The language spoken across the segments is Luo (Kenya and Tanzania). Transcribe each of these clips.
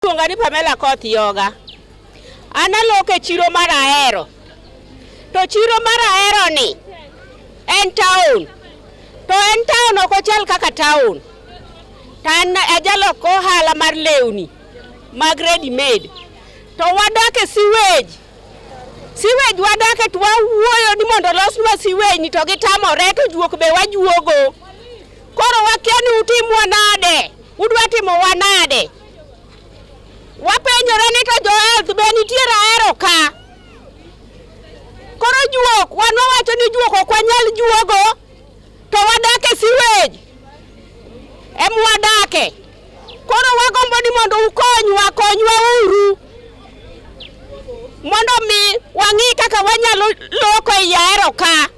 Iluonga ni Pamela Koth Yoga. An aloko e chiro mar Ahero. To chiro mar Ahero ni en town. To en town ok ochal kaka town. To an ajaloko ohala mar lewni mag ready made. To wadak e sewage. Sewage wadak e to wawuoyo ni mondo olosnwa sewage ni to gitamore to juok be wajuogo. Koro wakia ni utimwa nade. Udwa timowa nade. Wapenjore ni to jo health be nitiere ahero ka. Koro juok, wan wawacho ni juok ok wanyal juogo, to wadak e sewage. Em wadake. Koro wagombo ni mondo ukonywa, konywa uru. Mondo mi wang'i kaka wanyalo loko e ahero ka.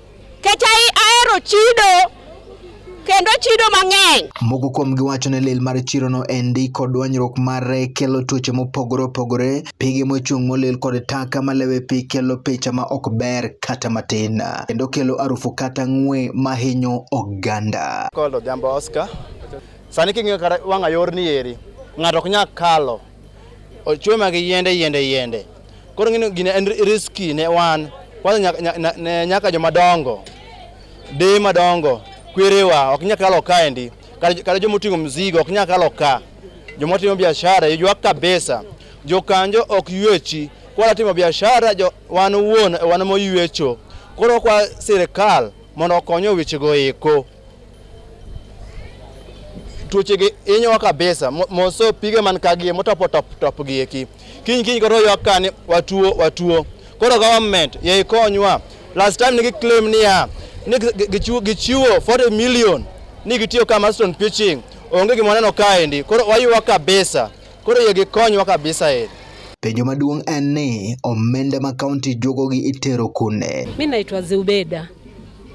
Kech ahero chido kendo chido mang'eny. Moko kuom giwacho ni lil mar chirono endi kod dwanyruok mare kelo tuoche mopogore opogore, pige mochung' molil kod taka malewe pi kelo picha ma ok ber kata matin, kendo kelo arufu kata ng'we mahinyo oganda. Called Odhiambo Oscar. Sani king'iyo kata wang'a yorni eri, ng'ato ok nyal kalo. Ochwe ma gi yiende yiende yiende. Koro ng'ino gine en riski ne wan. Kwanza nyaka, nyaka, nyaka joma dongo, deye madongo, kwerewa ok nyaka kalo kaendi. Kata joma oting'o mzigo ok nyaka kalo ka. Joma timo biashara yuak kabisa. Jokanjo ok yuechi. Kwa timo biashara jo, wan wuon wan moyuecho. Koro kwa sirkal mondo okonyo wechego eko. tuochegi inyowa kabisa mo- moso pige man kagie motopo top top gi eki kiny kiny koro ywak kani watuo watuo koro government ye ikonywa last time nigi claim niya ni gi- gi- gichiwo gichiwo 40 million ni gitiyo ka Marston pitching onge gima waneno kaendi koro waywa kabisa koro ye gikonywa kabisa e Penjo maduong' en ni omenda ma kaunti juogogi itero kune? Mi naitwa Zeubeda.